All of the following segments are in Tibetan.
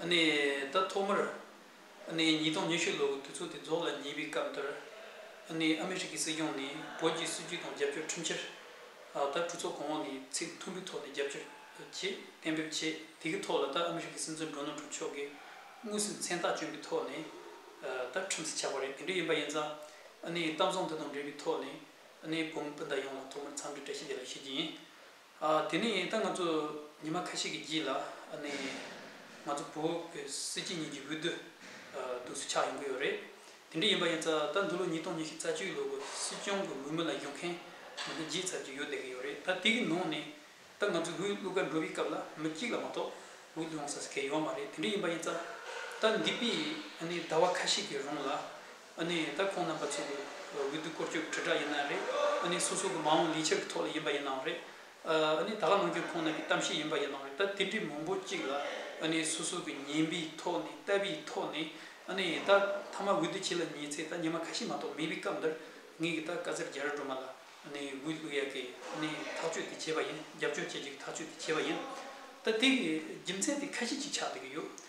ཟླ་ཐོག་མར་ཉིས་སྟོང་ཉི་ཤུ་ལོའི་དུས་ཚོད་དེ་རྫོགས་ལ་ཉེ་བའི་སྐབས་འདིར། ཨ་མེ་རི་ཁའི་སྲིད་སྐྱོང་ནས་བོད་ཀྱི་སྲིད་ཇུས་དང་རྒྱབ་སྐྱོར་ཁྲིམས་འཆར། ད་གྲོས་ཚོགས་གོང་འོག་ནས་ཚིག་མཐུན་པོའི་ཐོག་ནས་རྒྱབ་སྐྱོར་བྱེད་གཏན་འབེབས་བྱས་དེ་གའི་ཐོག་ལ་ད་ཨ་མེ་རི་ཁའི་སྲིད་འཛིན་སྒྲོ་ནལ་ཀྲོན་མཆོག་གིས་དངོས་སུ་མཚན་རྟགས་བཅོན་པའི་ཐོག་ནས་ད་ཁྲིམས་གསལ་ཆགས་པ་རེད་དེ་འདྲ་ཡིན་པ་ཡིན་ཙང། གཏམ་བཟང་འདི་དང་འབྲེལ་བའི་ཐོག་ནས་བོད་མི་སྤུན་ཟླ་ཡོངས་ལ་ཐོག་མར་འཚམས་འདྲི་བཀྲ་ཤིས་བདེ་ལེགས་ཞུ་རྒྱུ་ཡིན། དེ་ནས་ད་ང་ཚོ་ཉི་མ་ཁ་ཤས་ཀྱི་རྗེས་ལ་ང་ཚོ་བོད་ཀྱི་སྲིད་སྤྱི་གཉིས་ཀྱི་འོས་བསྡུ་དུས་སུ་ཆགས་ཡོང་གི་ཡོད་རེད། དེ་འདྲ་ཡིན་པ་ཡིན་ཙང་ད་འདི་ལོ་ཉིས་སྟོང་ཉི་ཤུ་རྩ་བཅུའི་ལོ་གི་སྲིད་སྐྱོང་གི་འོས་མི་ལ་བཞུགས་མཁན་མི་སྣ་བརྒྱད་ཙམ་ཞིག་ཡོད་བསྡད་ཀྱི་ཡོད་རེད་ད་དེ་གི་ནང་ནས་ད་ང་ཚོའི་འོས་བླུག་ག་འགྲོ་བའི་སྐབས་ལ་མི་གཅིག་ལ་མ་གཏོགས་འོས་བླུག་ཡོང་ས་སུ་གས་ཡོད་མ་རེད་དེ་འདྲ་ཡིན་པ་ཡིན་ཙང་ད་འདི་པའི་ཟླ་བ་ཁ་ཤས་ཀྱི་རུང་ལ་ཨ་ནི་ད་ཁོང་རྣམ་པ་ཚོ་གི་འོས་བསྡུ་སྐོར་སྐྱོད་དྲིལ་བསྒྲགས་ཡིན་ན་རེད་ཨ་ནི་སོ་སོ་གི་མ་འོངས་ལས་འཆར་གི་ཐོག་ལ་ཡིན་པ་ཡིན་ནའང་རེད་ཨ་ནི་ད་ག་ནང་ཁྱོད་ཁོང་རྣམ་པའི་གཏམ་བཤད་ཡིན་པ་ཡིན་ནའང་རེད་ད་དེ་འདྲའི་མང་པོ་གཅིག་ལ་ཨ་ནི་སོ་སོ་གི་ཉན་པའི་ཐོག་ནས་ལྟ་བའི་ཐོག་ནས་ཨ་ནི་ད་མཐའ་མ་འོས་བསྡུ་བྱེད་ལ་ཉེ་ཚེ་ད་ཉི་མ་ཁ་ཤས་མ་གཏོགས་མེད་པའི་སྐབས་འདིར་ངེད་ཀྱི་ད་བཀའ་སྩལ་རྒྱ་རི་སྒྲོལ་མ་ལ་ཨ་ནི་འོས་བསླུ་ཡ་གི་ཨ་ནི་ཐག་གཅོད་དེ་བྱས་པ་ཡིན་རྒྱབ་སྐྱོར་བྱེད་རྒྱུ་གི་ཐག་གཅོད་དེ་བྱས་པ་ཡིན་ད་དེ་གི་རྒྱུ་མཚན་དེ་ཁ་ཤས་གཅིག་ཆགས་བསྡད་ཀྱི་ཡོད་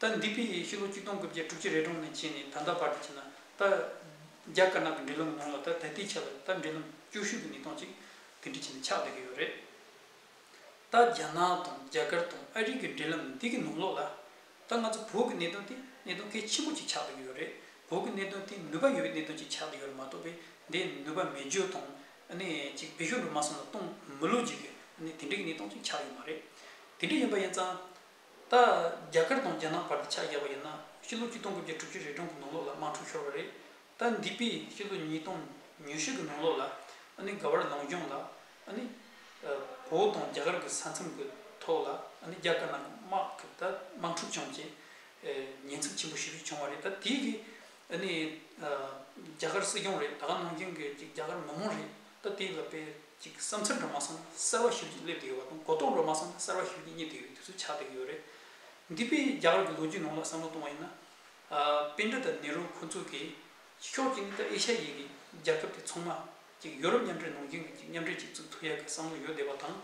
ད་འདི་པི་ཡིས་ཕྱི་ལོ་བཅུ་སྟོང་དགུ་བརྒྱ་དྲུག་ཅུ་རེ་གྲོང་ནས་ཕྱིན་ནས་ད་ལྟ་བར་དུ་བྱས་ན། ད། རྒྱ་དཀར་ནག་གི་འབྲེལ་ལམ་ནང་ལ་ད་ད་ལྟའི་ཆ་ལ་ད་འབྲེལ་ལམ་སྐྱོ་ཤུལ་གྱི་མི་སྟོང་གཅིག་དེ་འདྲ་བྱས་ནས་ཆགས་བསྡད་ཀྱི་ཡོད་རེད། ད་རྒྱ་ནག་དང་རྒྱ་གར་དང་ཨ་རི་གི་འབྲེལ་ལམ་འདི་གི་ནང་ལོགས་ལ། ད་ང་ཚོ་བོད་ཀྱི་གནད་དོན་དེ་གནད་དོན་གལ་ཆེན་པོ་གཅིག་ཆགས་བསྡད་ཀྱི་ཡོད་རེད། བོད་ཀྱི་གནད་དོན་དེ་ནུས་པ་ཡོད་པའི་གནད་དོན་གཅིག་ཆགས་བསྡད་ཡོད་རེད་མ་གཏོགས་པའི་འདི་ནུས་པ་མེད་བརྗོད་དང། ནི་ཅིག་བེད་ཤོག་འགྲོ་མ་སོང་ལ་གཏོང་མི་ལོ་རྒྱུས་ཀྱི་ནི་དེ་འདྲའི་གི་ནི་སྟོང་གཅིག་ཆགས་ཡོད་མ་རེད། དེ་འདྲ་ཡིན་པ་ཡིན་ཙང། ད་རྒྱ་གར་དང་རྒྱ་ནག་བར་དུ་ཆ་བཞག་པ་ཡིན་ན་སྤྱི་ལོ་གཅིག་སྟོང་དགུ་བརྒྱ་དྲུག་ཅུ་རེ་གྲངས་ཀྱི་ནང་ལོགས་ལ་དམག་འཁྲུག་ཤོར་བ་རེད། ད་འདི་པའི་སྤྱི་ལོ་ཉིས་སྟོང་ཉུས་ཤུ་གི་ནང་ལོགས་ལ་ཨ་ནི་ག་བར་ལོངས་སྦྱོང་ལ་ཨ་ནི་བོ་དང་རྒྱ་གར་གྱི་ས་མཚམས་ཀྱི་ཐོག་ལ་ཨ་ནི་རྒྱ་དཀར་ནག་གི་དམག་གི་ད་དམག་འཁྲུག་བྱུང་རྗེས་ཉེན་ཚབས་ཆེན་པོ་ཞིག་བྱུང་བ་རེད་ད་དེའི་གི་ཨ་ནི་རྒྱ་གར་སྲིད་སྐྱོང་རེད་ད་ག་ནང་བྱུང་གི་རྒྱ་གར་མི་མང་རེད། ད་དེ་ལ་དཔེ་གཅིག་གི་བསམ་ཚུལ་འགྲོ་མ་སོང་ན་གསར་བ་ཞིབ་ཀྱིས་སླེབས་དགོས་བ་དང་གོ་རྟོགས་འགྲོ་མ་སོང་ན་གསར་བ་ཞིབ་ཀྱིས་རྙེད་དགོས་བའི་དུས་ཚོད་ཆགས་བསྡད་ཀྱི་ཡོད་རེད། འདི་དཔེ་རྒྱ་གར་གྱི་ལོ་རྒྱུས་ནང་ལ་བསམ་བློ་གཏོང་བ་ཡིན་ན། དཔེ་འདྲེ་དང་ནེ་རུ་ཁོ་ཚོ་གིས་ཤོག་ཅིག་ནི་ད་ཨེ་ཤ་ཡའི་གི་རྒྱལ་ཁབ་དེ་ཚང་མ་གཅིག་ཡོ་རུབ་མཉམ་འབྲེལ་ནང་རྒྱུན་གྱི་གཅིག་མཉམ་འབྲེལ་གཅིག་བཙུགས་ཐུབ་ཡག་གི་བསམ་བློ་ཡོད་བསྡད་པ་དང་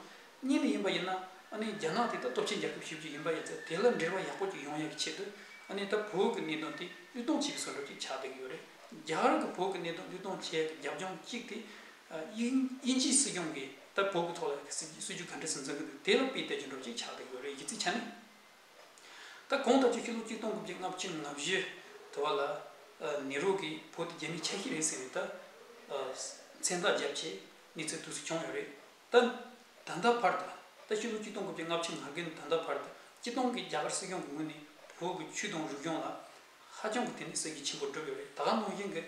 གཉིས་ནི་ཡིན་པ་ཡིན་ན་ཨ་ནི་རྒྱ་ནག་དེ་ད་སྟོབས་ཆེན་རྒྱལ་ཁབ་ཞིག་བརྒྱུད་ཡིན་པ་ཡིན་ཚེ་དེ་ལ་འབྲེལ་བ་ཡག་པོ་ཅིག་ཡོང་ཡག་གི་ཆེད་དུ་ཨ་ནི་ད་བོད་ཀྱི་གནད་དོན་དེ་གླུད་གཏོང་བྱེད་ཀྱི་ཟོལ་ལོ་ཅིག་ཆགས་བསྡད་ཀྱི་ཡོད་རེད་རྒྱ་གར་གྱི་བོད་ཀྱི་གནད་དོན་གླུད་གཏོང་བྱེད་ཡག་གི་རྒྱབ་ལྗོངས་གཅིག་དེ་དབྱིན་ཇིའི་སྲིད་སྐྱོང་གིས་ད་བོད་ཀྱི་ཐོག་ལ་སྲིད་ཇུས་ག་འདྲ་ཟིན་ཚང་གི་འདུག་དེ་ལ་དཔེ་བལྟས་ཀྱི་འགྲོ་ཅིག་ཆགས་བསྡད་ཀྱི་ཡོད་རེད་གཞི་རྩའི་ཆ་ནས་ད་གོང་ལྟ་སྤྱོད་ཕྱི་ལོ་གཅིག་སྟོང་དགུ་བརྒྱ་ལྔ་བཅུ་ལྔ་བཞི་དུ་བ་ལ་ནེ་རོ་གིས་བོད་དེ་རྒྱ་མིའི་ཆ་ཤས་རེད་ཟེར་ནས་ད་མཚན་རྟགས་བརྒྱབ་ཆེད་གནས་ཚུལ་དུས་སུ་བྱུང་ཡོད་རེད། ད་ལྟ་བར་དུ་རྟ་ཕྱི་ལོ་གཅིག་སྟོང་དགུ་བརྒྱ་ལྔ་བཅུ་ང་དགུ་ནས་ད་ལྟ་བར་དུ་སྤྱི་སྟོང་གི་རྒྱ་གར་སྲིད་སྐྱོང་གི་ངོས་ནས་བོད་ཀྱི་ཆུ་དང་རི་སྐྱོང་ལ་ཧ་ཅང་གི་དེ་ནས་གསེར་གྱི་ཆེན་པོ་བསྒྲུབས་ཡོད་རེད་ད་ག་ནང་བཞིན་གྱི་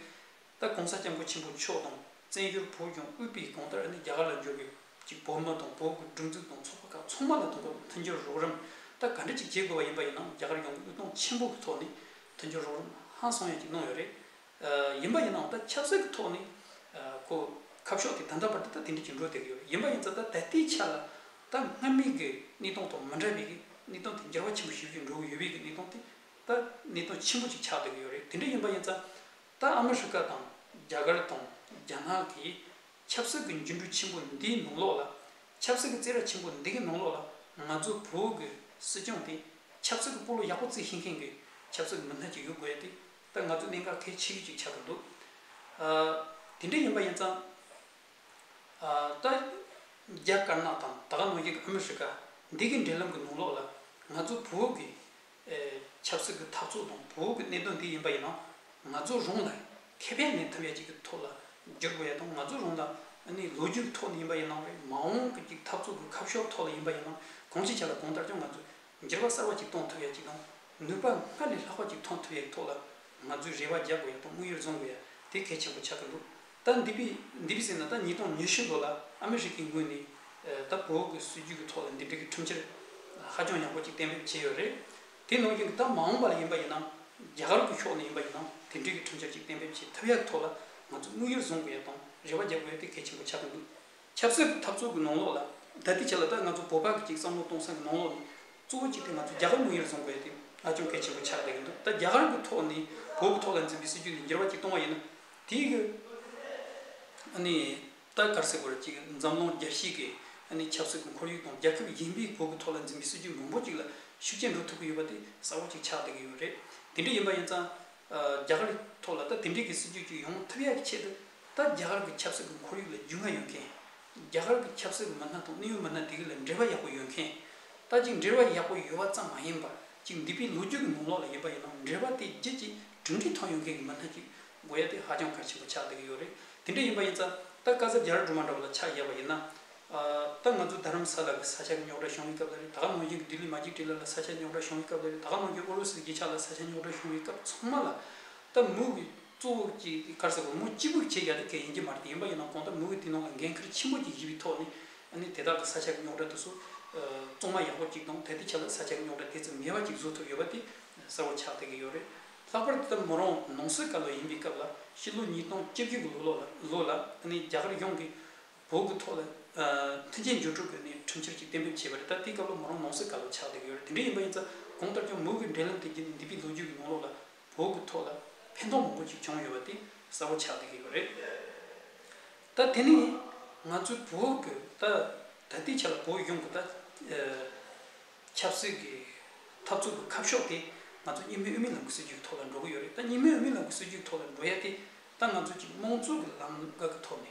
རྟ་གོང་ས་སྐྱབས་མགོན་ཆེན་པོ་མཆོག་དང་བཙན་བྱོལ་བོད་སྐྱོང་དབུས་པའི་གོང་ལྟར་ནས་རྒྱ་གར་ལ་འབྱོར་བའི་ཀྱི་བོད་མི་དང་བོད་ཀྱི་སྒྲིག་འཛུགས་དང་ཚོགས་པ་ཁག་ཚང་མ་ལ་དང་པོ་མཐུན་འགྱུར་རོགས་རམ་ད་ག་འདྲི་ཅིག་བྱེད་དགོས་པ་ཡིན་པ་ཡིན་ནམ་རྒྱ་གར་ཡོངས་ཀྱི་དབུལ་གཏོང་ཆེན་པོ་གྱི་ཐོག་ནས་མཐུན་འགྱུར་རོགས་རམ་ཧང་སང་ཡང་ཅིག་གནང་ཡོད་རེད། ཡིན་པ་ཡིན་ནའང་ད་ཆབ་སྲིད་ཀྱི་ཐོག་ནས་གོ། ཁ་ཕྱོགས་ཀྱི་བདག་འདྲ་བར་དུ་ད་དེ་འདྲ་གྱི་འགྲོ་བསྡད་ཀྱི་ཡོད་ཡིན་པ་ཡིན་ཙང་ད་ད་ལྟའི་ཆ་ལ་ད་སྔར་མེད་ཀྱི་གནས་སྟངས་ཐོག་མི་འདྲ་བའི་གནས་སྟངས་དེ་འགྱུར་བ་ཆེན་པོ་ཞིག་བཞིན་འགྲོ་གི་ཡོད་པའི་གནས་སྟངས་དེ་ད་གནས་སྟངས་ཆེན་པོ་ཅིག་ཆགས་བསྡད་ཀྱི་ཡོད་རེད་དེ་འདྲ་ཡིན་པ་ཡིན་ཙང་ད་ཨ་མི་རི་ཀ་དང་རྒྱ་གར་དང་རྒྱ་ནག་གིས་ཆབ་སྲིད་ཀྱི་འགྱུར་འགྲོས་ཆེན་པོ་འདིའི་ནང་ལོགས་ལ་ཆབ་སྲིད་ཀྱི་རྩེད་ར་ཆེན་པོ་འདི་གའི་ནང་ལོགས་ལ་ང་ཚོ་བོད་ཀྱི་སྲིད་སྐྱོང་དེ་ཆབ་སྲིད་ཀྱི་སྤོ་ལོ་ཡག་པོ་རྩེད་ཤེས་མཁན་གྱི་ཆབ་སྲིད་ཀྱི་མི་སྣ་ཅིག་ཡོད་དགོས་ཏེ། ད་ང་ཚོ་གནད་འགག་ཐད་ཆད་ཡོད་ཅིག་ཆགས་པ་འདུག་དེ་འདྲ་ཡིན་པ་ཡིན་ཙང། ད། རྒྱ་དཀར་ནག་དང་ད་ག་ནོར་རྒྱལ་ཨ་མི་རི་ཀ་འདི་གི་འབྲེལ་ལམ་གྱི་ནང་ལོགས་ལ། ང་ཚོ་བུ་འུག་གི། ཆབ་སྲིད་ཀྱི་འཐབ་རྩོད་དང་བུ་འུག་གི་གནད་དོན་འདི་ཡིན་པ་ཡིན་ན། ང་ཚོ་རང་ལ་ཁེ་ཕན་ལས་ཐབས་ཡ་གཅིག་གི་ཐོག་ལ་བསྒྱུར་དགོས་ཡ་དང་ང་ཚོ་རང་ལ་ནི་ལོ་རྒྱུས་ཀྱི་ཐོག་ནས་ཡིན་པ་ཡིན་ནམ་རེད་མ་འོངས་ཀྱི་འཐབ་རྩོད་ཀྱི་ཁ་ཕྱོགས་ཐོག་ལ་ཡིན་པ་ཡིན་ན་གང་ཞིག་བྱས་ལ་གང་ལྟར་ཀྱང་ང་ཚོ་འགྱུར་བ་གསར་བ་ཅིག་གཏོང་ཐུབ་ཡག་ཅིག་དང། ནུས་པ་སྔར་ལས་ལྷག་པ་ཅིག་ཐོན་ཐུབ་ཡག་གི་ཐོག་ལ། ང་ཚོས་རེ་བ་རྒྱག་དགོས་ཡག་དང་དམིགས་ཡུལ་འཛོམས་དགོས་ཡག་དེ་གལ་ཆེན་པོ་ཆགས་ཀྱི་འདུག་ད་འདི་པི་འདི་པི་སི་ནང་ད་ཉིས་སྟོང་ཉི་ཤུ་ལོ་ལ་ཨ་མི་རི་ཀའི་ངོས་ནས། ད་བོད་གི་སྲིད་ཇུས་ཀྱི་ཐོག་ལ་འདི་འབྲེལ་གྱི་ཁྲིམས་འཆར། ཧ་ཅང་ཡག་པོ་ཅིག་གཏན་འབེབས་བྱས་ཡོད་རེད། དེ་ནང་བཞིན་གྱི་ད་མ་འོངས་པ་ལ་ཡིན་པ་ཡིན་ནམ། རྒྱ་གར་གྱི་ཕྱོགས་ནས་ཡིན་པ་ཡིན་ནམ་དེ་འབྲེལ་གྱི་ཁྲིམས་འཆར་ཅིག་གཏན་འབེབས་བྱེད་ཐུབ་ཡག་གི་ཐོག་ལ། ང་ཚོས་དམིགས་ཡུལ་བཟུང་དགོས་ཡག་དང་རེ་བ་རྒྱག་དགོས་ཡག་དེ་གལ་ཆེན་པོ་ཆགས་ཀྱི་འདུག། ཆབ་སྲིད་ཀྱི་འཐབ་རྩོད་ཀྱི་ནང་ལོགས་ལ་ལྟ་དུས་ཁྱེད་ལ་ལྟ་ང་ཚོ་བོད་པ་གཅིག་བསམ་བློ་གཏོང་ས་ཀྱི་ནང་ལོགས་ནི་གཙོ་བོ་གཅིག་དེ་ང་ཚོ་རྒྱ་གར་དངུལ་གཉེར་བཟོ་དགོས་དེ་ང་ཅུང་གལ་ཆེན་པོ་ཆགས་བསྡད་ཀྱི་འདུག་ད་རྒྱ་གར་གྱི་ཐོག་ནས་བོད་ཀྱི་ཐོག་ལ་འཛིན་པའི་སྲིད་ཇུས་འདི་འགྱུར་བ་གཅིག་གཏོང་བ་ཡིན་ན་དེ་ཡི་གེ་ནི་ད་གར་སྲིད་བོད་ཀྱི་འཛམ་གླིང་རྒྱལ་གཞིས་ཀྱི་ནི་ཆབ་སྲིད་ཀྱི་ཁོར་ཡུག་དང་རྒྱལ་ཁབ་གཞན་པའི་བོད་ཀྱི་ཐོག་ལ་འཛིན་པའི་སྲིད་ཇུས་མང་པོ་གཅིག་ལ་ཤུགས་རྐྱེན་འགྲོ་ཐུབ་ཀྱི་ཡོད་པ་དེ་གསལ་བོ་གཅིག་ཆགས་བསྡད་ཀྱི་ཡོད་རེད་དེ་འདྲ་ཡིན་པ་ཡིན་ཙང་རྒྱ་གར་གྱི་ཐོག་ལ་ད་དེ་འདྲའི་གྱི་སྲིད་ཇུས་གཅིག་ཡོང་ཐུབ་ཡག་གི་ཆེད་དུ་ད་རྒྱ་གར་གྱི་ཆབ་སྲིད་ཀྱི་ཁོར་ཡུག་ལ་རྒྱུས་མངའ་ཡོད་མཁན། རྒྱ་གར་གྱི་ཆབ་སྲིད་མི་སྣ་དང་གནད་ཡོད་མི་སྣ་དེ་གའི་ལ་འབྲེལ་བ་ཡག་པོ་ཡོད་མཁན། ད་ཅིག་འབྲེལ་བ་ཡག་པོ་ཡོད་པ་ཙམ་མ་ཡིན་པར་ཅིག་འདི་པའི་ལོ་རྒྱུས་ཀྱི་ངོ་ལོག་ལ་ཡིན་པ་ཡིན་ནམ་འབྲེལ་བ་དེའི་རྗེས་ཀྱི་གྲུབ་འབྲས་ཐོན་ཡོད་མཁན་གྱི་མི་སྣ་ཅིག་དགོས་ཡ་དེ་ཧ་ཅང་གལ་ཆེན་པོ་ཆགས་བསྡད་ཀྱི་ཡོད་རེད་དེ་འདྲ་ཡིན་པ་ཡིན་ཙང་ད་བཀའ་ཟབ་རྒྱ་རི་སྒྲོལ་མ་འདྲ་བ་ལ་ཆ་བཞག་པ་ཡིན་ན། ད་ང་ཚོ་རྡ་རམ་ས་ལ་གྱི་ས་ཆ་གི་རྙོག་དྲ་བྱུང་བའི་སྐབས་ལ་རེད་ད་ག་ནང་བཞིན་གྱི་ལྡི་ལི་མ་གཅིག་དྲིལ་ལ་ལ་ས་ཆ་རྙོག་དྲ་བྱུང་བའི་སྐབས་ལ་རེད་ད་ག་ནང་བཞིན་ཨུ་རུ་སུ་གྱི་རྒྱལ་ཆ་ལ་ས་ཆ་རྙོག་དྲ་བྱུང་བའི་སྐབས་ཚང་མ་ལ། ད་མུ་གི། གཙོ་བོ་ཀྱི་ཁར་ས་གོང་མོ་སྤྱིལ་བུར་ཁྱེད་རྒྱ་ཐུ་གས་ཡིན་གྱི་མ་རེད་ཡིན་པ་ཡིན་ན་གོང་ལྟར་མི་འོས་ཏེ་ནང་ལ་འགན་ཁིར་ཆེན་པོ་ཅིག་བཞི་བའི་ཐོག་ནས་ནས་དེ་དག་གི་ས་ཆ་རྙོག་དྲ་དུ་སུ་བཙོང་མ་ཡག་པོ་ཅིག་དང་ད་ལྟའི་ཆ་ལ་ས་ཆ་རྙོག་དྲ་དེ་ཙམ་ངེས་པ་ཅིག་བཟོ་ཐུབ་ཡོད་པ་དེ་གསལ་བོར་ཆགས་བསྡད་ཀྱི་ཡོད་རེད་ལྷག་པར་དེ་ལྟར་མོ་རང་ནང་སོས་ཀ་ལོ་ཡིན་པའི་སྐབས་ལ་ཕྱི་ལོ་ཉིས་སྟོང་བཅོ་བརྒྱད་གི་ལོ་ལོ་ལོ་ལ་ནས་རྒྱ་གར་ཡོངས་ཀྱི་བོད་ཀྱི་ཐོག་ལ་མཐུན་རྐྱེན་སྦྱོར་སྤྲོད་དགོས་ནས་ཁྲིམས་འཆར་ཅིག་གཏན་འབེབས་བྱས་པ་རེད་ད་ལྟའི་སྐབས་ལ་མོ་རང་ནང་སོས་ཀ་ལོ་ཆགས་བསྡད་ཀྱི་ཡོད་རེད་དེ་འདྲ་ཡིན་པ་ཡིན་ཙང་གོང་ལྟར་ཀྱང་མོ་གི་འབྲེལ་ལམ་དེ་བརྒྱུད་ནས་འདས་པའི་ལོ་རྒྱུས་ཀྱི་ནང་ལོགས་ལ། བོད་ཀྱི་ཐོག་ལ་ཕན་ཐོགས་མང་པོ་ཞིག་བྱུང་ཡོད་པ་དེ་གསལ་བོ་ཆགས་བསྡད་ཡོད་པ་རེད། ད་དེ་ནས་ང་ཚོའི་བོད་ཀྱི་ད་ད་ལྟའི་ཆ་ལ་བོད་གཞུང་གི་ད་ཆབ་སྲིད་ཀྱི་འཐབ་རྩོད་ཀྱི་ཁ་ཕྱོགས་དེ་ང་ཚོ་གཉིས་སྨན་དབུ་མའི་ལམ་གྱི་སྲིད་ཇུས་ཀྱི་ཐོག་ལ་འགྲོ་གི་ཡོད་རེད་ད་གཉིས་སྨན་དབུ་མའི་ལམ་གྱི་སྲིད་ཇུས་ཀྱི་ཐོག་ལ་འགྲོ་ཡ་དེ་ད་ང་ཚོ་གཅིག་དམངས་གཙོ་གྱི་ལམ་ཀ་གི་ཐོག་ནས་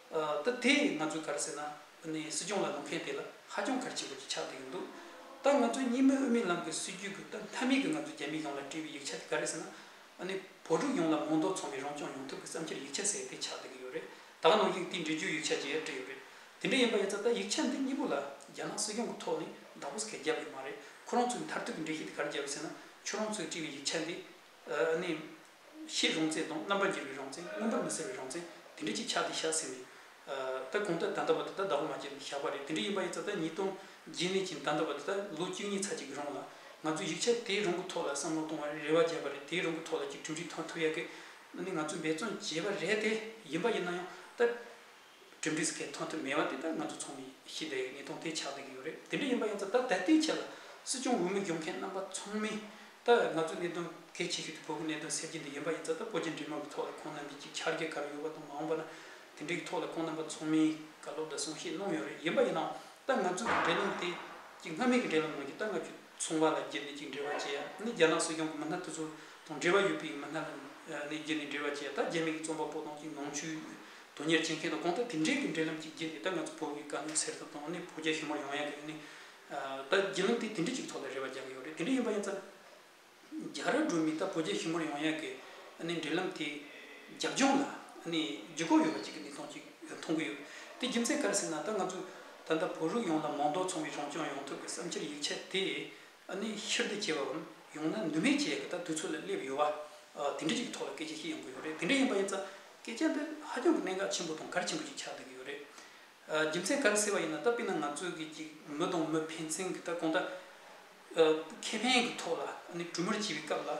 ད་དེ་ང་ཚོའི་གར་ཟེར་ན་སྲིད་སྐྱོང་ལ་ལུང་མཁན་དེ་ལ་ཧ་ཅང་གར་ཆེན་པོ་ཅིག་ཆགས་བསྡད་ཀྱི་འདུག་ད་ང་ཚོའི་གཉིས་མེད་དབུས་མའི་ལམ་གྱི་སྲིད་རྒྱུད་ཀྱི་ད་མཐའ་མའི་གི་ང་ཚོའི་རྒྱ་མི་ཡོངས་ལ་བཀྲིས་བའི་ཡིག་ཆ་དེ་ག་རེ་ཟེར་ན། བོད་ཕྲུག་ཡོངས་ལ་མོང་འདོགས་ཚོང་བའི་རང་སྐྱོང་ཡོང་ཐབས་ཀྱི་བསམ་འཁྱེར་ཡིག་ཆ་ཟེར་དེ་ཆགས་བསྡད་ཀྱི་ཡོད་རེད་ད་ནང་བཞིན་དེ་འབྲི་རྒྱུའི་ཡིག་ཆ་བརྗེ་ཡར་བཀྲིས་ཡོད་རེད་དེ་འདྲ་ཡིན་པ་ཡིན་ཙང་ད་ཡིག་ཆ་འདི་གཉིས་པོ་ལ་རྒྱ་ནག་སྲིད་སྐྱོང་གི་ཐོག་ནས་བདག་པོ་སྐལ་རྒྱབ་ཡོད་མ་རེད་ཁོ་རང་ཚོའི་མཐར་ཐུག་གི་འགྲེལ་བཤད་དེ་གར་རྒྱབ་ཡོད་ཟེར་ན་ཁྱོད་རང་ཚོའི་བཀྲིས་བའི་ཡིག་ཆ་འདི་ནི། ཤེས་རུང་ཚད་དང་རྣམ་པར་འགྱུར་བའི་རང་མཚན་མངོན་པར་མི་གསལ་བའི་རང་མཚན་དེ་འདྲ་ཅིག་ཆགས་ཏེ་བཞག་ཟིན་པས། ད་གོང་ལྟར་ད་ལྟ་བ་དེ་དག་ཟླ་བ་མ་སྐྱེལ་ནས་བཞག་པ་རེད་དེ་འདྲ་ཡིན་པ་ཡིན་ཙང་ཟླ་གཉིས་སྟོང་རྗེས་མེད་ཅིང་ད་ལྟ་བ་དེ་དག་ལོ་བཅུ་གཉིས་ཚར་གཅིག་གི་རིང་ལ། ང་ཚོས་ཡིག་ཆ་དེའི་རང་གི་ཐོག་ལ་བསམ་བློ་གཏོང་བར་རེ་བ་བརྒྱབ་པ་རེད་དེའི་རང་གི་ཐོག་ལ་གྱི་གྲུབ་འབྲས་ཐོན་ཐུབ་ཡག་གི། ནི་ང་ཚོས་འབད་བརྩོན་བྱས་པ་རེད་དེ་ཡིན་པ་ཡིན་ན་ཡང་ད། གྲུབ་འབྲས་སྐད་ཐོན་ཐུབ་མེད་པ་དེ་དག་ང་ཚོ་ཚོགས་མི་ཞི་བདེ་ཡི་ངེས་དོན་དེ་ཆགས་བསྡད་ཀྱི་ཡོད་རེད་དེ་འདྲ་ཡིན་པ་ཡིན་ཙང་ད་ལྟ་དེའི་ཆེད་ལ་སྲིད་སྐྱོང་འོས་མི་སྒྱུར་མཁན་རྣམ་པ་ཚོགས་མི་ལྟ་བས་ང་ཚོས་གནད་དོན་གལ་ཆེ་ཤོས་དེ་བོད་ཀྱི་གནད་དོན་སེལ་རྒྱུ་འདི་ཡིན་པ་ཡིན་ཙང་ད་བོད་རྒྱ་འབྲེལ་མོལ་གྱི་ཐོག་ལ་ཁོང་རྣམ་པའི་ཅིག་ཆར་རྒྱ་གར་ཡོད་པ་དང་མ་འོངས་པ་ན་དེ་འབྲེལ་གྱི་ཐོག་ལ་ཁོང་རྣམ་པ་ཚོགས་མིའི་བཀའ་སློབ་འདྲ་གསུང་བཤད་གནང་ཡོད་རེད་ཡིན་པ་ཡིན་ནའང་ད་ང་ཚོས་འབྲེལ་ལམ་དེ་ཅིག་སྔ་མེད་ཀྱི་འབྲེལ་ལམ་ནང་གི་ད་ང་ཆོས་ཚོང་བ་ལ་བརྒྱུད་ནས་ཅིག་འབྲེལ་བ་བྱེད་ཡ་ནི་རྒྱ་ནག་སྲིད་སྐྱོང་གི་མི་སྣ་དེ་ཚོ་དང་འབྲེལ་བ་ཡོད་པའི་མི་སྣ་ལ་ནི་བརྒྱུད་ནས་འབྲེལ་བ་བྱེད་ཡ་ད་རྒྱ་མི་གྱི་རྩོམ་པ་པོ་དང་ཅིག་ནང་ཆོས་དོན་གཉེར་བྱེད་མཁན་དང་གོང་དུ་དེ་འབྲེལ་གྱི་འབྲེལ་ལམ་གཅིག་བརྒྱད་དེ་དག་ང་ཚོ་བོད་ཀྱི་དཀའ་ངལ་སེལ་ཐབས་དང་ནི་བོད་རྒྱ་ཞི་མོར་ཡོང་ཡག་གི་ནི་ད་བརྒྱུད་ལམ་དེ་དེ་འབྲེལ་གཅིག་ཐོག་ལ་རེ་བ་རྒྱག་གི་ཡོད་རེད་དེ་འདྲ་ཡིན་པ་ཡིན་ཚ། རྒྱ་ར་སྒྲོལ་མས་ད་བོད་རྒྱ་ཞི་མོར་ཡོང་ཡག་གི་ནི་འབྲེལ་ལམ་དེ་རྒྱབ་ལྗོངས་ལ་ནི་རྒྱུ་ཁོག་ཡོད་པ་གཅིག་གི་ནི་མཐོང་གཅིག་མཐོང་གི་ཡོད་དེ་རྒྱུ་མཚན་ག་རེ་ཟེར་ན་ད་ང་ཚོ་ད་ལྟ་བོད་རུག་ཡོངས་ལ་མང་དོགས་ཚོང་བའི་རང་སྐྱོང་ཡོང་ཐབས་ཀྱི་བསམ་འཆར་ཡིག་ཆ་དེ་ཨ་ནི་ཕྱིར་བདེ་སྐྱེ་བའམ་ཡང་ན་ནུས་མེད་ཅེས་ཀྱི་དག་དུས་ཚོད་ལ་སླེབས་ཡོད་བ། དེ་འདྲི་གཅིག་གི་ཐོག་ལ་སྐད་ཆ་ཞིག་ཡོང་གི་ཡོད་རེད་དེ་འདྲ་ཡིན་པ་ཡིན་ཙང་སྐད་ཆ་འདི་ཧ་ཅང་གི་གནད་འགག་ཆེན་པོ་དང་གལ་ཆེན་པོ་ཞིག་ཆགས་བསྡད་ཀྱི་ཡོད་རེད། རྒྱུ་མཚན་ག་རེ་ཟེར་བ་ཡིན་ན་ད་དཔེར་ན་ང་ཚོས་ཀྱི་ཅིག་མི་དང་མི་ཕན་ཚུན་གྱི་ད་གོང་ད། ཁེ་ཕན་གྱི་ཐོག་ལ་ཨ་ནི་གྲོས་མོལ་བྱེད་པའི་སྐབས་ལ།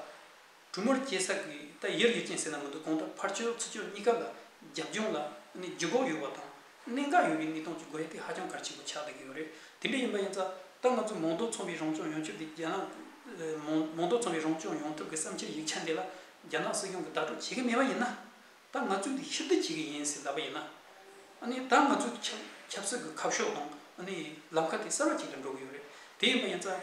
གྲུ་མོར་སྐྱེས་ས་ཀྱི་རྟ་ཡིར་ཡོད་ཀྱིན་ཟེར་ན་མི་འདུག་གང་ལྟར་ཕར་ཆོད་ཚུར་ཆོད་གཉིས་ཀ་ལ་རྒྱབ་ལྗོངས་ལ་ནི་རྒྱུ་འབོག་ཡོད་པ་དང། གནད་འགག་ཡོད་པའི་གནས་སྟངས་ཀྱི་དགོས་གལ་ཧ་ཅང་གལ་ཆེན་པོ་ཆགས་བསྡད་ཀྱི་ཡོད་རེད། དེ་འདྲ་ཡིན་པ་ཡིན་ཙང་ད་ང་ཚོས་མོང་རྡོ་ཚོང་པའི་རང་སྐྱོང་ཡོང་ཕྱོགས་ཀྱི་རྒྱ་ནག་མོང་རྡོ་ཚོང་པའི་རང་སྐྱོང་ཡོང་ཐབས་ཀྱི་བསམ་འཆར་ཡིག་ཆ་འདི་ལ་རྒྱ་ནག་སྲིད་སྐྱོང་གིས་བདག་སྤྲོད་བྱེད་ཀྱི་མེད་པ་ཡིན་ན། ད་ང་ཚོས་དེ་ཕྱིར་བསྡུ་བྱེད་ཀྱི་ཡིན་ཟེར་གདའ་པ་ཡིན་ན། ད་ང་ཚོས་ཆབ་སྲིད་ཀྱི་ཁ་ཕྱོགས་དང་ལམ་ཁ་དེ་གསར་བ་ཅིག་ཏུ་འགྲོ་གི་ཡོད་རེད། དེ་ཡིན་པ་ཡིན་ཙང།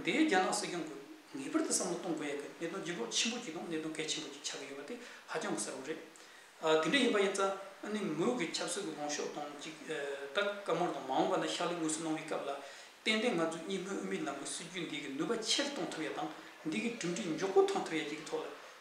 འདི་རྒྱ་ནག་སྲིད་སྐྱོང་གིས་ངེས་པར་དུ་བསམ་བློ་གཏོང་དགོས་ཡག་གི་གནད་དོན་ལྗིད་ལོག་ཆེན་པོ་ཅིག་དང་གནད་དོན་གལ་ཆེན་པོ་ཅིག་ཆགས་ཀྱི་ཡོད་པ་དེ་ཧ་ཅང་གི་གསལ་བོ་རེད། དེ་འདྲ་ཡིན་པ་ཡིན་ཙང། མོས་གུས་ཆབ་སྲིད་ཀྱི་ལོངས་ཤོག་དང་གཅིག་ད་སྐབས་མར་དང་མ་འོངས་པ་ན་ཕྱག་ལས་དངོས་སུ་གནང་བའི་སྐབས་ལ་ཏན་ཏན་ང་ཚོས་གཉིས་སྨོན་དབུ་མའི་ལམ་གྱི་སྲིད་ཇུས་འདི་གི་ནུས་པ་ཆེ་རུ་གཏོང་ཐུབ་ཡག་དང་འདི་གི་གྲུབ་འབྲས་མགྱོགས་པོ་ཐོན་ཐུབ་ཡག་ཅིག་གི་ཐོག་ལ་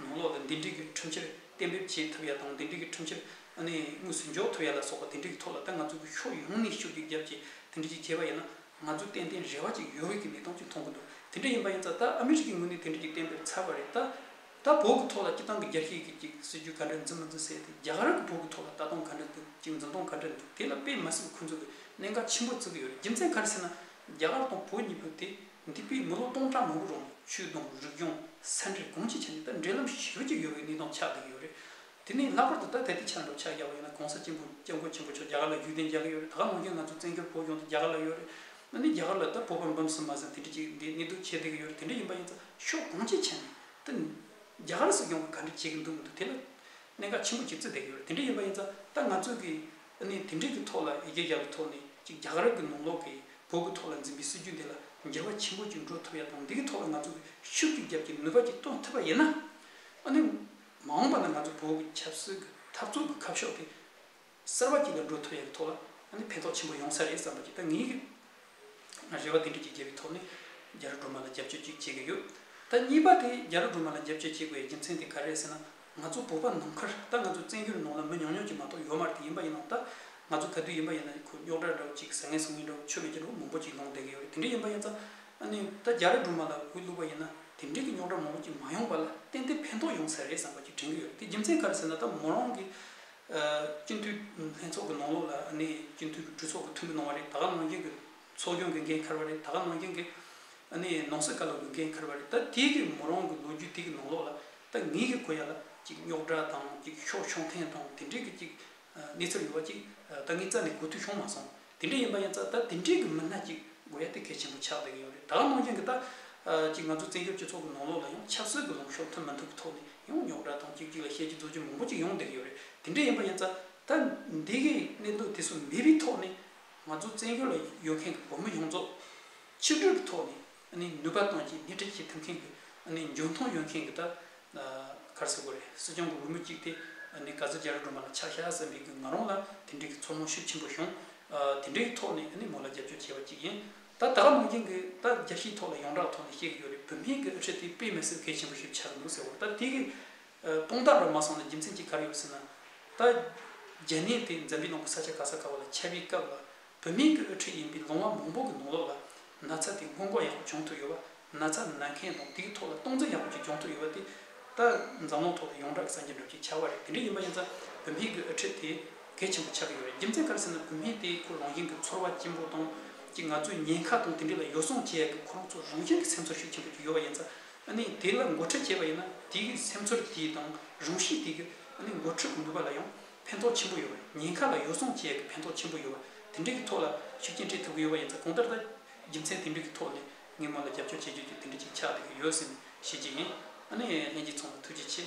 ནང་ལོགས་ལ་འདེམས་སྒྲིག་གི་ཁྲིམས་ཕྱིར་གཏན་འབེབས་བྱེད་ཐུབ་ཡ་དང་འདེམས་སྒྲིག་གི་ཁྲིམས་ཕྱིར་དངོས་སུ་འཇོག་ཐུབ་ཡ་ལ་སོགས་པ་དེ་འབྲེལ་གྱི་ཐོག་ལ་ད་ང་ཚོ་གི་ཕྱོགས་ཡོངས་ནས་ཤུགས་རྒྱག་རྒྱབ་ཀྱིས་དེ་འབྲེལ་གྱི་བྱས་པ་ཡིན་ན་ང་ཚོ་ཏན་ཏན་རེ་བ་ཅིག་ཡོད་རེད་ཀྱི་ལས་སྟངས་ཅིག་མཐོང་གི་འདུག་དེ་འདྲ་ཡིན་པ་ཡིན་ཙང་ད་ཨ་མི་རི་ཀའི་ངོས་ནས་དེ་འབྲེལ་གྱི་གཏན་འབེབས་ཚར་བ་རེད་ད། ད་བོད་ཀྱི་ཐོག་ལ་སྤྱི་བཏང་གི་རྒྱ་སྐྱེད་ཀྱི་ཅིག་སྲིད་ཇུས་ག་འདྲ་འཛིན་མ་འཛིན་གསལ་ཏེ་རྒྱ་གར་གྱི་བོད་ཀྱི་ཐོག་ལ་ལྟ་སྟངས་ག་འདྲ་འདུག་ཅིག་འཛིན་སྟངས་ག་འདྲ་འདུག་དེ་ལ་དཔེ་མ་སྲིད་པ་ཁོང་ཚོ་གི་གནད་འགག་ཆེན་པོ་བརྩི་གི་ཡོད་རེད་རྒྱུ་མཚན་ག་རེ་ཟེར་ན་རྒྱ་གར་དང་བོད་གཉིས་པོ་དེ་འདི་སྤོས་མི་ལོ་སྟོང་ཕྲག་མང་པོ་རུང་ཆུའི་དོང་རིག་ལྗོངས་ས་འདྲེས་གོམས་གཅིག་བྱས་ནས་ད་འབྲེལ་ལམ་ཞིག་ཞུ་གྱི་ཡོད་པའི་གནས་སྟངས་ཆགས་བསྡད་ཀྱི་ཡོད་རེད། དེ་ནས་ལྷག་པར་དུ་ད་ད་ལྟའི་ཆར་འགྲོ་འཆག་ཡག་པོ་ཡོད་ན་གོང་ས་སྤྱི་འབུམ་སྐྱབས་མགོན་ཆེན་པོ་མཆོག་རྒྱ་གར་ལ་རྒྱུད་གདན་རྒྱག་གི་ཡོད་རེད་ད་ག་ནོར་རྐྱེན་ང་ཚོ་བཙན་བྱོལ་བོད་ལྗོངས་དང་རྒྱ་གར་ལ་ཡོད་རེད། ད་ནི་རྒྱ་གར་ལ་ད་བོད་པར་འབུམ་གསུམ་མ་ཟིན་དེ་འདྲ་ཅིག་འདི་གནས་སྡོད་བྱས་བསྡད་ཀྱི་ཡོད་རེད་དེ་འདྲ་ཡིན་པ་ཡིན་ཚ་ཤོག་གོམས་གཅིག་བྱས་ནས་ད་རྒྱ་གར་སྲིད་སྐྱོང་གིས་ག་འདྲ་བྱས་ཀྱི་འདུག་མི་འདུག་དེ་ལ་གནད་འགག་ཆེན་པོ་ཞིག་བརྩི་བསྡད་ཀྱི་ཡོད་རེད་དེ་འདྲ་ཡིན་པ་ཡིན་ཚ་ད་ང་ཚོས་ཀྱི་ཨ་ནི་དེ་འབྲེལ་གྱི་ཐོག་ལ་ཡི་གེ་རྒྱག་པའི་ཐོག་ནས་ཅིག་རྒྱ་གར་གྱི་ནང་ལོག་གི་བོད་ཀྱི་ཐོག་ལ་འཛིན་པའི་སྲིད་ཇུས་འདི་ལ་འགྱུར་བ་ཆེན་པོ་ཅིག་འགྲོ་ཐུབ་ཡ་དང་འདི་གི་ཐོག་ལ་ང་ཚོ་གིས་ཤུགས་རྒྱུགས་རྒྱབ་ཀྱི་ནུས་པ་ཅིག་གཏོང་ཐུབ་པ་ཡིན་ན། ཨ་ནི་མ་འོངས་པ་ན་ང་ཚོ་བོད་ཀྱི་ཆབ་སྲིད་ཀྱི་འཐབ་རྩོད་ཀྱི་ཁ་ཕྱོགས་དེ་གསར་བ་ཅིག་ལ་འགྲོ་ཐུབ་ཡ་གི་ཐོག་ལ་ཨ་ནི་ཕན་ཐོགས་ཆེན་པོ་ཡོང་ས་རེད་བསམ་པ་ཅིག་ད་ངེད་ཀྱི་རེ་བ་འདི་འདྲ་ཅིག་བརྒྱབ་པའི་ཐོག་ནས་རྒྱ་རུ་སྒྲོལ་མ་ལ་རྒྱབ་སྐྱོར་ཅིག་བྱེད་ཀྱི་ཡོད། ད་གཉིས་པ་དེ་རྒྱ་རུ་སྒྲོལ་མ་ལ་རྒྱབ་སྐྱོར་བྱེད་དགོས་པའི་རྒྱུ་མཚན་དེ་ག་རེད་ཟེར་ན། ང་ཚོ་བོད་པ་ནམ་མཁར་ད་ང་ཚོའི་བཙན་བྱོལ་ནང་ལ་མི་ཉུང་ཉུང་ཅིག་མ་གཏོགས་ཡོད་མ་རེད་དེ་ཡིན་པ་ཡིན་ནའང་ད་ང་ཚོ་ག་དུས་ཡིན་པ་ཡིན་ན་ཁོ་རྙོག་དྲ་འདྲ་བོ་ཅིག་ཟ་ངེ་ཟ་ངེ་འདྲ་བོ་ཆོས་མེད་ཀྱི་འདྲ་བོ་མང་པོ་ཅིག་ལོངས་སྡད་ཀྱི་ཡོད་རེད་དེ་འདྲ་ཡིན་པ་ཡིན་ཙང། ཨ་ནི་ད་རྒྱ་རུ་སྒྲོལ་མ་ལ་འོས་བླུགས་པ་ཡིན་ན་དེ་འབྲེལ་གྱི་རྙོག་དྲ་མང་པོ་ཅིག་མ་ཡོང་བ་ལ་ཏན་ཏན་ཕན་ཐོག་ཡོང་ས་རེད་བསམ་པ་ཅིག་དྲན་གྱི་ཡོད་རེད་དེ་རྒྱུ་མཚན་ག་རེ་ཟེར་ན་ད་མོ་རང་གི་སྤྱི་འཐུས་ལྷན་ཚོགས་ཀྱི་ནང་ལོགས་ལ་སྤྱི་འཐུས་གྲོས་ཚོགས་ཀྱི་འཐུས་མི་གནང་བ་རེད་ད་ག་ནང་བཞིན་གྱི་ཚོགས་སྐྱོང་གི་འགན་འཁར་བ་རེད་ད་ག་ནང་བཞིན་གྱི་ནང་སྲིད་བཀའ་བློན་གྱི་འགན་འཁར་བ་རེད་ད་དེ་གི་མོ་རང་གི་ལོ་རྒྱུས་དེ་གི་ནང་ལོགས་ལ་ད་ངེད་ཀྱི་གོ་ཡ་ལ་ཅིག་རྙོག་དྲ་དང་ཅིག་ཤོག་ཤོང་ཐེངས་དང་དེ་འབྲེལ་གྱི་ཅིག་གནས་ཚུལ་ཡོད་པ་ཅིག་ད་ངེད་རྩ་ནས་གོ་ཐུས་ཤོང་མ་སོང། དེ་འདྲ་ཡིན་པ་ཡིན་ཙང་ད་དེ་འདྲའི་གི་མི་སྣ་གཅིག་དགོས་ཡ་དེ་གལ་ཆེན་པོ་ཆགས་བསྡད་གི་ཡོད་རེད་ད་ནང་བཞིན་གི་ད་ཅིག་ང་ཚོ་བཙན་བྱོལ་སྤྱི་ཚོགས་གི་ནང་ལོགས་ལ་ཡང་ཆབ་སྲིད་གི་ལོང་ཤོག་འཐོན་མི་འཐུབ་གི་ཐོག་ནས་ཡང་ཉོག་དྲ་དང་གཅིག་གཅིག་ལ་བཤད་ཀྱི་རྫོགས་ཀྱི་མང་པོ་ཅིག་ཡོང་བསྡད་གི་ཡོད་རེད་དེ་འདྲ་ཡིན་པ་ཡིན་ཙང་ད་འདི་གི་གནད་དོན་དེ་ཚོ་མེད་པའི་ཐོག་ནས་ང་ཚོ་བཙན་བྱོལ་ལ་ཡོད་མཁན་གི་བོད་མི་ཡོངས་རྫོགས་ཕྱི་དྲོད་གི་ཐོག་ནས་ནུས་པ་གཏོང་ཆེད་སྣེ་ཁྲིད་བྱེད་ཐུབ་མཁན་གྱི་འཇོན་མཐོང་ཡོད་མཁན་གྱི་ད་གར་ཟེར་དགོས་རེད་སྲིད་སྐྱོང་གི་འོས་མི་གཅིག་དེ་ག་ཚོད་རྒྱ་རི་སྒྲོལ་མ་ལ་ཆ་ཤ་ཟ་འབིག་གི་ང་རང་ལ་དེ་འབྲེལ་གྱི་ཚོར་སྣང་ཤུགས་ཆེན་པོ་བྱུང། དེ་འབྲེལ་གྱི་ཐོག་ནས་མོ་ལ་རྒྱབ་སྐྱོར་བྱས་པ་གཅིག་ཡིན། ད་ད་ག་ནང་རྐྱེན་གྱི་ད་རྒྱ་ཕྱིའི་ཐོག་ལ་ཡོངས་གྲགས་ཐོག་ནས་བཤད་ཀྱི་ཡོད་རེད་བོད་སྨན་གྱི་ཨ་ཕྱི་དེ་དཔེ་མི་སྲིད་གལ་ཆེན་པོ་ཞིག་ཆགས་ཀྱི་འདུག་ཟེར་བ་ད་དེ་གི་དཔང་རྟགས་འདྲ་མ་སོང་ན་རྒྱུ་མཚན་གཅིག་ག་རེ་ཡོད་ཟེར་ན། ད་རྒྱ་ནད་དེ་འཛམ་གླིང་ནང་གི་ས་ཆ་ག་ས་ག་བ་ལ་ཆ་བིའི་སྐབས་ལ་བོད་མིང་གི་དབུ་ཁྲིད་ཡིན་པའི་ལུང་བ་མང་པོ་གི་ནང་ལོགས་ལ་ན་ཚ་དེ་སྔོན་འགོག་ཡག་པོ་བྱུང་ཐུབ་ཡོད་པ། ན་ཚ་ན་མཁན་དང་དེའི་ཐོག་ལ་སྟངས་འཛིན་ཡག་པོ་ཅིག་བྱུང་ཐུབ་ཡོད་པ་དེ། ད་འཛམ་གླིང་ཐོག་ལ་ཡོངས་གྲགས་ཀྱི་བསམ་གྱི་འགྲུབ་ཀྱི་བྱ་བ་རེད་དེ་འདྲ་ཡིན་པ་ཡིན་ཙང་བོད་མིང་གི་དབུ་ཁྲིད་དེ་གལ་ཆེན་པོ་ཆགས་ཀྱི་ཡོད་རེད་རྒྱུ་མཚན་ག་རེ་ཟེར་ན་བོད་མིང་དེའི་ཁུར་ལོང་ཞིང་གི་ཚོར་བ་སྐྱེན་པོ་དང་གཅིག་ང་ཚོའི་ཉེན་ཁ་དང་དེ་འདྲ་ལ་ཡོ་བསྲང་བྱེད་ཡག་གི་ཁོ་རང་ཚོ་རང་བཞིན་གི་སེམས་ཚོར་ཤུགས་ཆེན་པོ་ཅིག་ཡོད་པ་ཡིན་ཙང་ཨ་ནི་དེ་ལ་འགོ་ཁྲིད་བྱས་པ་ཡིན་ན་དེའི་སེམས་ཚོར་དེའི་དང་རང་གཤིས་དེ་གི་ཨ་ནི་འགོ་ཁྲིད་གི་ནུས་པ་ལ་ཡང་ཕན་ཐོགས་ཆེན་པོ་ཡོད་པ་ཉེན་ཁ་ལ་ཡོ་བསྲང་བྱེད་ཡག་གི་ཕན་ཐོགས་ཆེན་པོ་ཡོད་པ་དེ་འདྲའི་གི་ཐོག་ལ་ཤུགས་རྐྱེན་སྤྲད་ཐུབ་ཀྱི་ཡོད་པ་ཡིན་ཚེ་གོང་ལྟར་ད་རྒྱུ་མཚན་དེ་འདྲའི་གི་ཐོག་ནས་ངས་མོ་ལ་རྒྱབ་སྐྱོར་བྱེད་རྒྱུ་རྒྱུ་དེ་འདྲའི་ཅིག་ཆགས་བསྡད་ཀྱི་ཡོད་ཟེར་ནས་བཤད་ཀྱི་ཡིན་ཨ་ནི་ལྷན་ཅིག་ཚོགས་ན་ཐུགས་རྗེ་ཆེ།